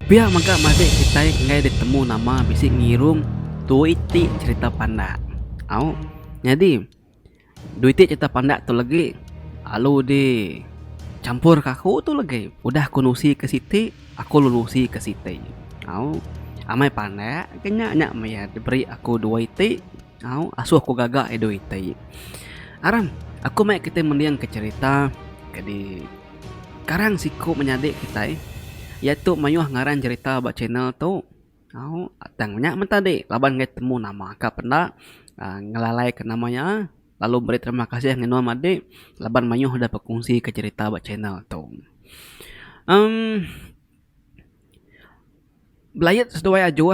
Pia mega madik kitai enggai ditemu nama bisi ngirum dua iti cerita pandak. Au. Nyadi dua iti cerita pandak tu legi alu di champur ka aku tu legi udah aku nusi ka siti aku lu nusi ka siti. Au. Amai pandak ke nya nya maya diberi aku dua iti. Au, asuh aku gaga ai doi ti. Aram, aku mai kitai mendingka cherita ke di karang siku menyadi kitai iya tu mayuh ngaran cherita ba channel tu. Au, tang nya men tadi laban enggai temu nama ka pen enda uhh ngelalai ka nama iya lalu meri terima kasih engai enua madik laban mayuh udah berkongsi ka cherita ba channel tu. Em Belayet seduai ajuh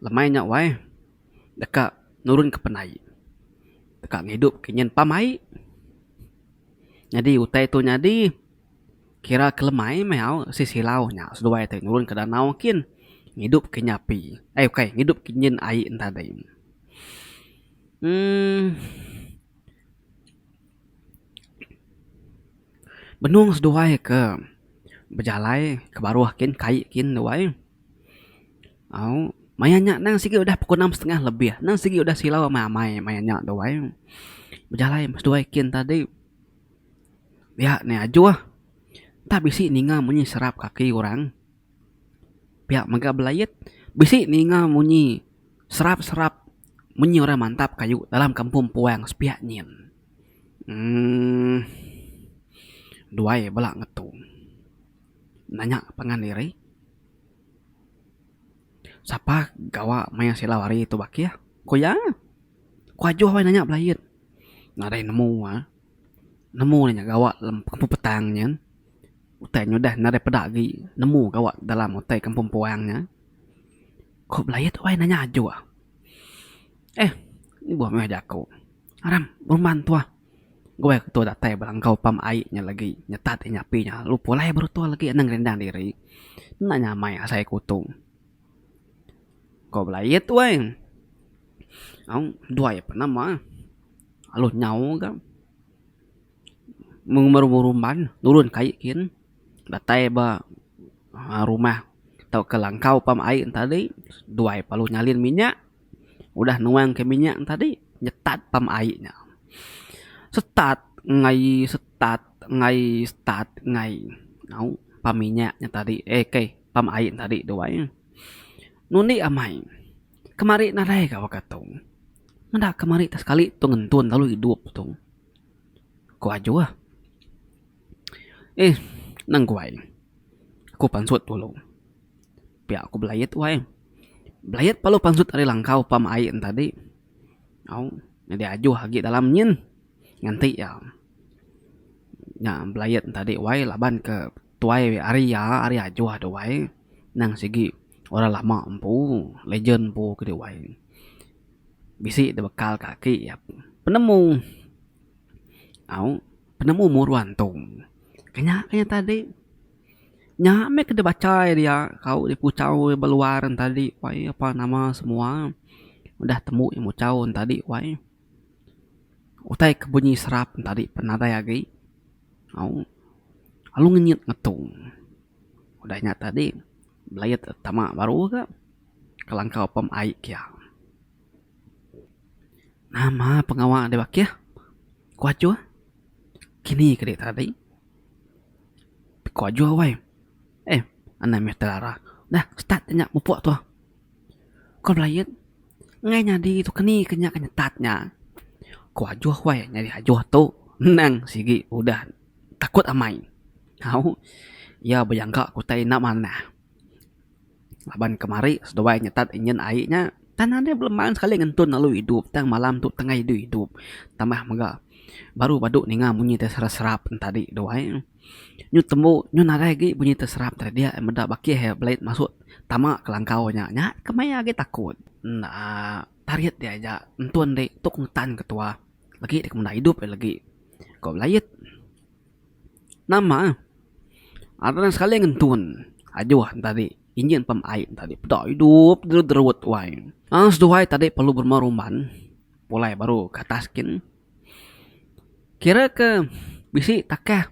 lemai nya wai. deka nurunka penai, deka ngidupka nyin pam ai. Nyadi utai tu nyadi kira ke lemai meh au si silau nya seduai tai nurunka danau kin ngidupka nya api ai ukai ngidupka nyin ai enta dei. uhh Benung seduai ke bejalai ke baruh kin kai kin duai. Au, maya nya endang sigi udah pukul enam setengah lebih. Endang sigi udah silau amai-amai maya nya tu ai. Bejalai meh seduai kin tadi. Pia ne ajuh. Enta bisi ninga munyi serap kaki orang. Pia mega belait. Bisi ninga munyi serap-serap munyi orang mantap kayu dalam kampung puang sepia nyin. Uhh. Duai bala ngetu. Nanya pangan diri. Sapa gawa maya silau hari tu bakih ku iya. Ku ajuh meh nanya bilain nadai nemu ah. Nemu inya gawa dalam kampung petang nyin. Utai ne udah nadai peda agi nemu gawa dalam utai kampung puang nya. Ku bilain wai nanya ajuh. Eh mbuh meh jaku. Aram penguman tuah. Gua ke tua datai belangkau pam ai nya legi nyetat inya api nya lalu pulai baru tua legi enda ngerindang diri enda nya amai asai ke utung. Ko belait wai au dua iya pun nama alu nyau ga mung meri berumban nurun ke ai gin datai ba aaa rumah tauka langkau pam ai tadi dua iya lalu nyalin minyak. Udah nuang ke minyak ne tadi nyetat pam aie nya. Setat ngai setat ngai setat ngai au pam minyak nya tadi eh kai pam aie nya tadi tu ai. Ngundi amai kemari nadai ka baka tu. Meda kemari ka sekali tu ngentun lalu idup tu. Ku ajuh eh nengkuai ku pansut dulu. Pia aku belayet wai. Belayet palu pansut ari langkau pam ai entadi. Au nyadi ajuh agi dalam nyin. Nganti iya nya belayet entadi wai laban ke tuai ari iya ari ajuh tu wai. Nang sigi orang lama empu, legend empu kidi wai. Bisi da bekal ka aki iya penemu. Au penemu muru antu. Ka nya ka iya tadi. Nya meh ke deh bacha iya dia tau deh puchau iya ba luar nya tadi wai apa nama semua udah tembu iya muchau nya tadi wai utai ke bunyi serap nya tadi pan nadai agi au lalu ngenyit ngetung udah nya tadi belaie tama baru ga kelangkau pam ai kia nama pengawa deh bakih ku achuh kini kadi tadi. Ku Ajuh wai. Eh, anang meh terara. Dah, start nya mupuk tu. Ku Belain, enggai nyadi tu ke ni ke nya ke nyetat nya. Ku Ajuh wai, nyadi Ajuh tu nang sigi udah takut amai. Au, iya bejangka ku utai enda manah. Laban kemari seduai nyetat injin ai nya tan anang belema sekali ngentun lalu idup tang malam tu tengah adu idup tambah mega baru badu ninga bunyi da serap serap ne tadi tu ai nyu tembu nyu nadai agi bunyi da serap tadi dia meda bakih blade masu tama kelangkau nya nya ke meh agi takut enda tarit dia aja ngentun deh tok ngetan ketuah lagi deh ke menda idup lagi ko belait. Nama aran sekali ngentun ajuh ne tadi injin pam ai ne tadi peda idup jerut jerut wai aaa seduai tadi perlu berumah rumban pulai baru ke atas gin kira ke bisi takah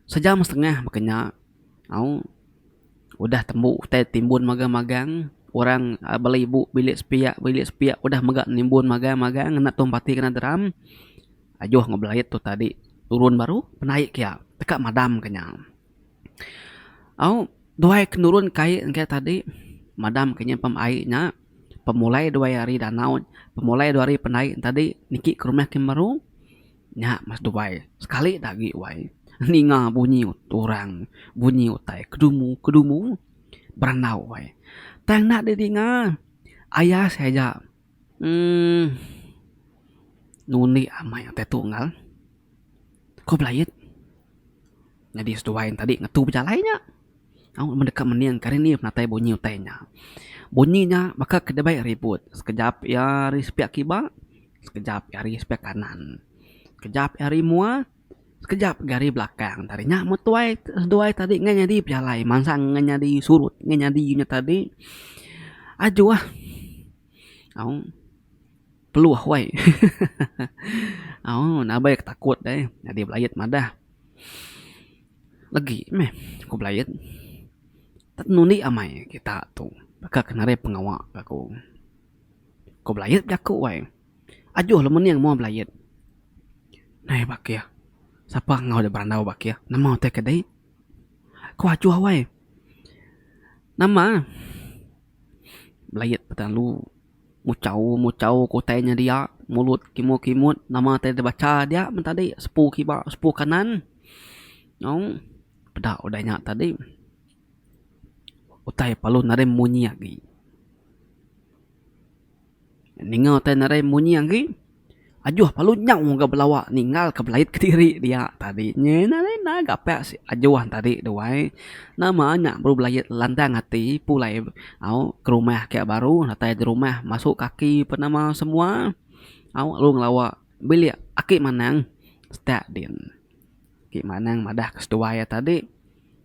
sejam setengah ba kinya au udah tembu utai timbun magang magang orang bala ibu bilik sepiak bilik sepiak udah mega nimbun magang magang ngena tong pati kena deram. Ajuh enggau Belait tu tadi turun baru penai kia teka madam ke nya. Au duai ke nurun kai enggai tadi madam ke nyimpan ai nya pemulai duai hari danau pemulai duai hari penai tadi niki ke rumah kimet baru nya meh duai sekali da agi wai ninga bunyi orang bunyi utai kedumu kedumu berandau wai tang enda di dinga ayas aja Emm nundi amai utai tu enggau ko belait nyadi seduai enti tadi ngetu bejalai nya tau mun deka mening kari ni penatai bunyi utai nya. Bunyi nya baka ke deba ribut sekejap iya ari sepiak kiba sekejap iya ari sepiak kanan sekejap iya ari mua. Sekejap ga ari belakang tadi nya mun tuai seduai tadi ngah nyadi pejalai mansang ngah nyadi surut ngah nyadi nya tadi ajuh au peluh wai hehehe au nabai ke takut ai nyadi belait madah legi meh ku belait tak nundi amai kita tu baka ke narai pengawa aku. Ku belait jaku ai. Ajuh le mening mua belayit. Nai Bakih, sapa enggau deh berandau Bakih? Nama utai ke dei? Ko Ajuh awai. Nama? Belayit betalu. Muchau muchau ke utai nya dia. Mulut kimut kimut. Nama utai deh bacha dia men tadi? Sepu kiba sepu kanan. Aung. Peda udah nya tadi. Utai palun ari munyi agi. Ninga utai narai munyi agi. Ajuh palu nyau ga belawa ninggal ka belait kediri dia tadi nya narai enda ga apai ajuh tadi tu ai. Nama nya baru belait landang ati pulai au ke rumah ke baru datai ke rumah masuk kaki pa nama semua au lalu ngelawa bilik aki manang setak din. Aki manang madah ke seduai iya tadi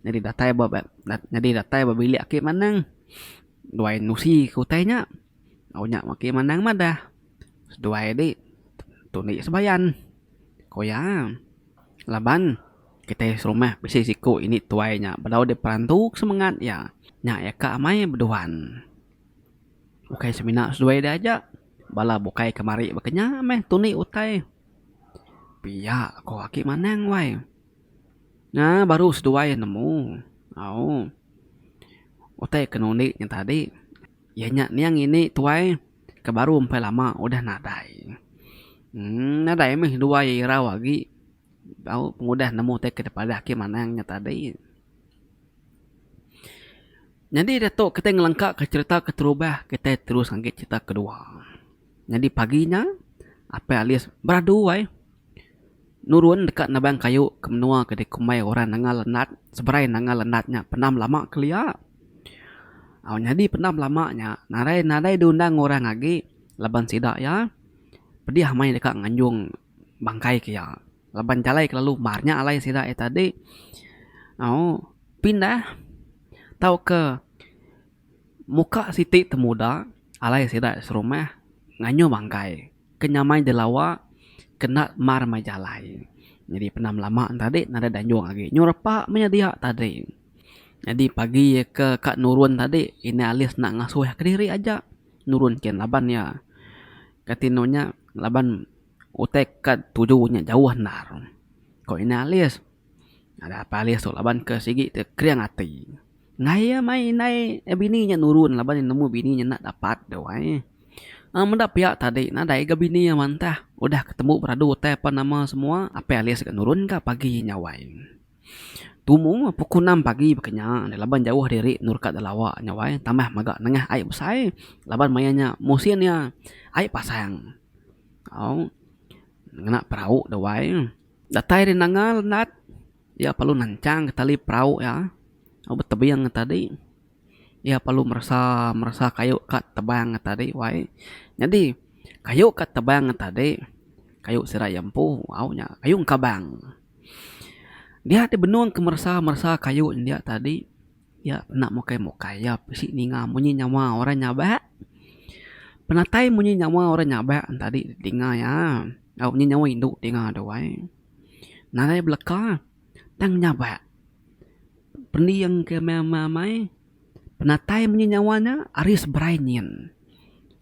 nyadi datai ba nyadi datai ba bilik aki manang duai nusi ke utai nya. Au nya maki manang madah. Seduai di tunik sebayan. Ko iya, laban kitai serumah bisi siku ini tuai nya bedau diperantu ke semengat iya. Nya iya ka amai beduan. Ukai semina seduai dia aja, bala bukai kemari baka nya meh tunik utai. Pia ko aki manang wai. Nya baru seduai nemu. Au. Utai ke nunik nya tadi. Iya nya niang ini tuai ke baru empai lama udah nadai. Emm nadai meh dua iya irau agi au pengudah nemu tai ke padah ke manang nya tadi. Nyadi diatu kitai ngelengkaka cherita keterubah kitai terus ngagai cherita kedua. Nyadi pagi nya, Apai Alis beradu ai nurun deka nebang kayu ke menua ke dikumbai orang Nanga Lenat. Seberai Nanga Lenat nya pendam lama kelia. Au nyadi pendam lama nya, nadai nadai diundang orang agi laban sida iya pedih meh deka nganjung bangkai ke iya laban jalai ke lalu mar nya alai sida iya tadi. Au pindah tauka. Muka siti temuda alai sida serumah ngayuh bangkai ke nyamai jelawa kena mar mai jalai. Nyadi penam lama ne tadi nadai danjung agi nyuh repa meh iya dia tadi. Nyadi pagi iya ke ka nurun tadi indai alis enda ngasuh iya kediri aja nurun kin laban iya ka tinu nya laban utai ka tuju nya jauh endar. Ko indai alis, nadai apai alis tu laban ke sigi ti kering ati. Nai iya mai indai bini nya nurun laban iya nemu bini nya enda dapat deh wai. Aaa meda pia tadi nadai ga bini iya mantah udah ke tembu beradu utai apan nama semua Apai Alis ga nurun ka pagi nya wai. Tumu pukul enam pagi baka nya deh laban jauh diri endur ka Delawa nya wai tambah mega nengah ai besai laban maya nya musin iya ai pasang au ngena perau deh wai. Datai deh nanga Nat. Iya perlu nanchang ka tali perau iya lalu betebing ka tadi iya perlu meresa meresa kayu ka tebang ka tadi wai nyadi kayu ka tebang ka tadi kayu sida iya empu au nya kayu engkabang dia ti benung ka meresa meresa kayu india tadi iya enda mukai mukai iya bisi ninga munyi nyawa orang nyaba penatai munyi nyawa orang nyaba tadi dinga iya au nyi nyawa indu dinga tu ai. nadai beleka tang nyabak pending ke amai penatai munyi nyawa nya ari seberai nyin.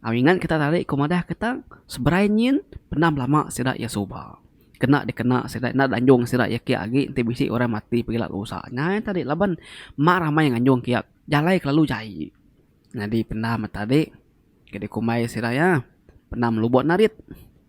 Au ingat kita tadi ku madah kita seberai nyin pendam lama sida iya suba kena dikena sida enda deh anjung sida iya kiya agi enti bisi orang mati pegila ke usa nya aja tadi laban mak ramai nganjung kiya jalai kelalu jai nyadi pendam tadi ke dikumbai sida iya pendam lubok narit.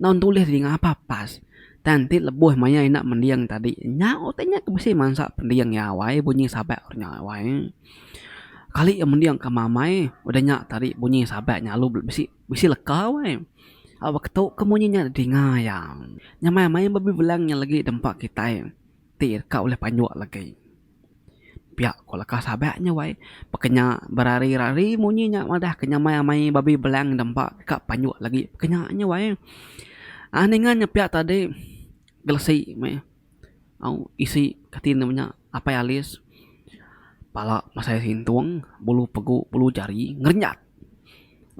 Enda ntulis dih ngapa pas. Tang ti lebuh maya enda mending tadi nya utai nya ke mesti mansa pending iya awai bunyi sabat nya nya awai. Kali iya mending ka mamai udah nya tadi bunyi sabat nya lalu bisi bisi leka awai. Au baka tu ke munyi nya dinga iya. Nya maya maya babi bilang nya lagi deh empa kitai ti ka ulih panjuk lagi. Pia ko leka sabak nya wai peka nya berari rari munyi nya madah ke nyamai amai babi belang dempa ka panjuk lagi peka nya nya wai aaa ninga nya pia tadi gelesi meh au isi kati ne menya apai alis pala masai sintung bulu pegu bulu jari ngerenyat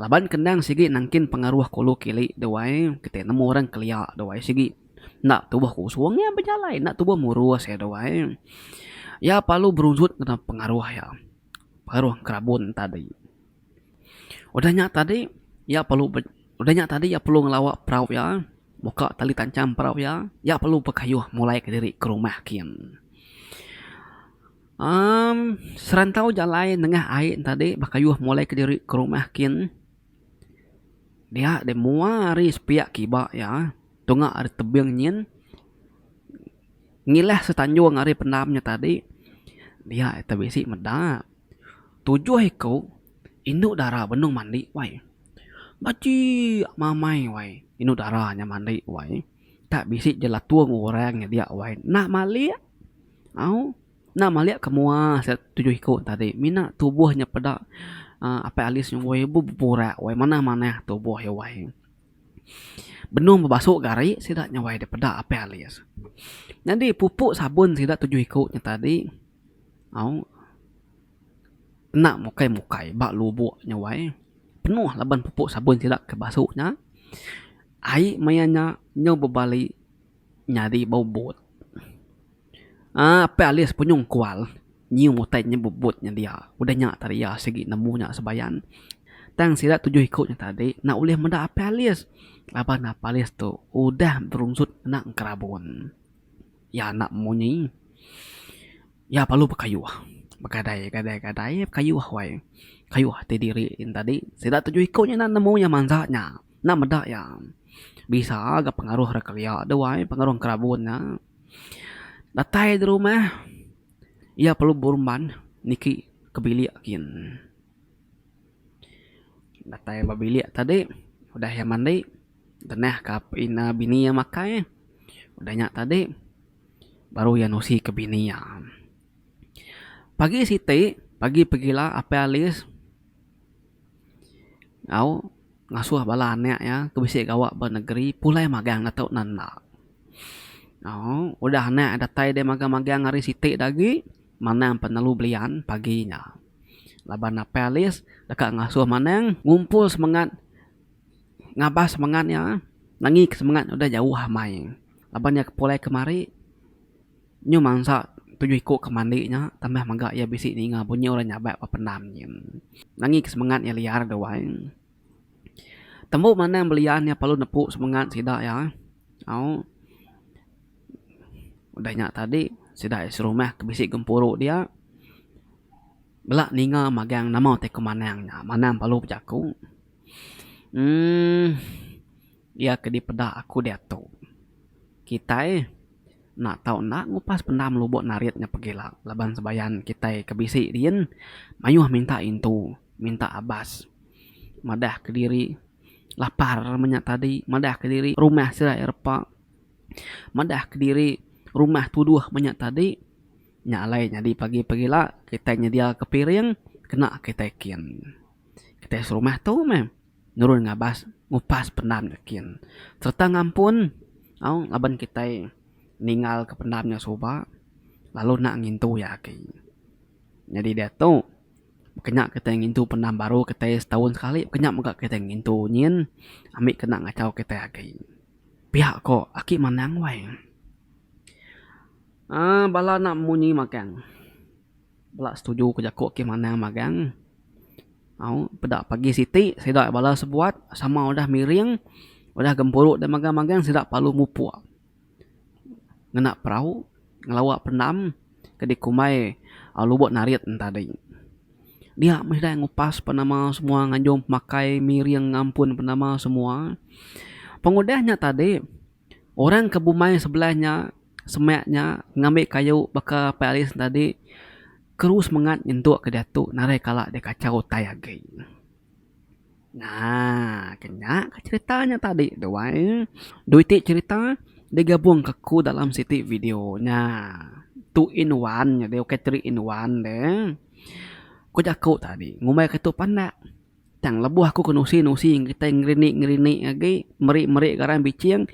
laban kendang sigi nengkin pengaruh kulu kili dawai kiti nemu orang kelia dawai sigi. Enda tubuh kusung iya bejalai, enda tubuh murus iya tu ai. Iya parlu berujut ngena pengaruh iya, pengaruh kerabun tadi. Udah nya tadi, iya parlu be, udah nya tadi iya parlu ngelawa perau iya, muka tali tancham perau iya, iya parlu bekayuh mulai kediri ke rumah kin. Amm, serantau jalai nengah ai tadi bekayuh mulai kediri ke rumah kin. Dia deh mua hari sepiak kiba iya tunga ari tebing nyin ngilah setanjung ari pendam nya tadi dia ite bisi meda tujuh iko indu dara benung mandi wai. Bachi mamai wai indu dara nya mandi wai tak bisi jelatung orang nya dia wai enda malik au. Enda malik ke mua sida tujuh iku tadi mina tubuh nya peda uhh Apai Aliz ngumbai beburak wai manah manah tubuh iya wai benung bebasu gari sida nya wai deh peda Apai Aliz. Nyadi pupu sabun sida tujuh iku nya tadi au enda mukai mukai ba lubok nya wai penuh laban pupu sabun sida ke basu nya ai maya nya nyau bebali. Nyadi bubut. Aaa apai ali sepenyong kual nyium utai nya bubut nya dia. Udah nya tadi iya sigi nemu nya sebayan. Tang sida tujuh iku nya tadi enda ulih meda apai alis laban apai alis tu udah berunsut enda ngerabun. Iya enda munyi. Iya perlu bekayuh. Begadai gadai gadai bekayuh wai. Kayuh ti diri nya tadi. Sida tujuh iku nya enda nemu iya mansa nya. Enda meda iya. Bisa ga pengaruh ra kelia deh wai pengaruh kerabun nya. Datai deh rumah iya perlu berumban niki ke bilik gin. Datai ba bilik tadi udah iya mandi genah ka bini iya makai udah nya tadi baru iya nusi ka bini iya. Pagi siti pagi pegila Apai Alis. enggau ngasuh bala anak iya ke bisi gawa ba negeri pulai magang da tau nan enda. Au udah anak iya datai deh magang magang ari siti da agi manang penelu belian pagi nya. Laban napeh alis deka ngasuh manang ngumpul semangat ngabas semangat iya nengika semangat udah jauh amai laban iya pulai kemari. Nyu mansa tujuh iku ke mandi nya tambah mega iya bisi ninga bunyi orang nyabak ba pendam nyin. Nangi ke semengat iya liar deh wai. Tembu manang belian iya perlu nepu semengat sida iya au. Udah nya tadi sida iya serumah ke bisi gempuru dia bela ninga magang nama ti ku manang nya. Manang perlu bejaku. uhh Iya ke dipeda aku diatu. Kitai enda tau enda ngupas pendam lubuk narit nya pegila laban sebayan kitai ke bisi diin mayuh minta intu, minta abas. Madah kediri lapar menya tadi, madah kediri rumah serai repa, madah kediri rumah tuduh menya tadi. Nya alai nyadi pagi pegila kitai nyediaka piring kena kitai kin. Kitai serumah tu meh. Nurun ngabas ngupas pendam nya kin sereta ngampun au laban kitai ninggalka pendam nya suba lalu enda ngintu iya agi. Nyadi diatu kena kitai ngintu pendam baru kitai setaun sekali kena mega kitai ngintu nyin ami kena ngachau kitai agi. Pia ko aki manang wai uhh bala enda munyi magang. Bela setuju ke jaku ke manang magang. Au peda pagi siti sida bala sebuat sama udah miring udah gempuru deh magang magang sida perlu mupuk ngena perau ngelawa pendam ke dikumbai lubok narit ne tadi. Dia meh deh ngupas pan nama semua nganjung makai miring ngampun pan nama semua pengudah nya tadi. Orang ke bumai sebelah nya semak nya ngambi kayu baka Pak Aliff tadi keru semengat nyentuk ke diatu narai kala deh kachau utai agi. Naa ke nya ke cherita nya tadi tu ai. Dui ti cherita digabung ke ku dalam siti video nya. Two in one nya deh bukai three in one deh. Ku jaku tadi ngumbai ke tu pandak. Tang lebuh aku ke nusi-nusi kitai ngerinik-ngerinik agi meri-meri garang biching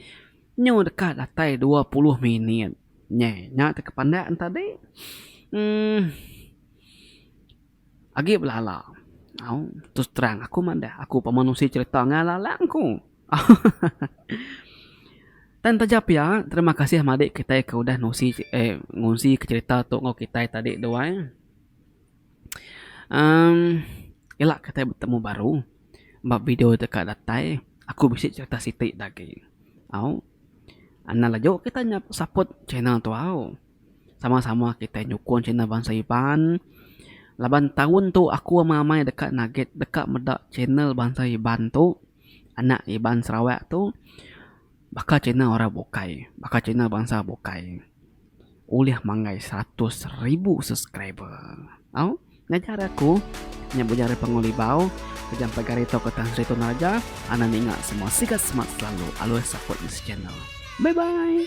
nyu deka datai dua puluh minit. Nyeh nya ti ke pandak ne tadi uhh agi belala au terus terang aku madah aku pemba nusi cherita ngan lalang ku hahaha. Tang taja pia terima kasih madik kitai ke udah nusi uhh ngunsi cherita tu enggau kitai tadi dua. Uhm ila kitai betemu baru ba video ti ka datai aku bisi cerita siti da agi au anak laju kita nyap support channel tu au sama sama kita nyukung channel bansa Iban laban taun tu aku ama amai deka nugget deka meda channel bansa Iban tu anak Iban Sarawak tu baka channel orang bukai baka channel bansa bukai. ulih manggai seratus ribu subscriber. Au, ngajar aku nya bujang ari Pangul Ibau, bujang Pak Gary tauka Tan Sri Tun Raja, anak ninga semua sigat semat selalu alus support this channel. Bye bye.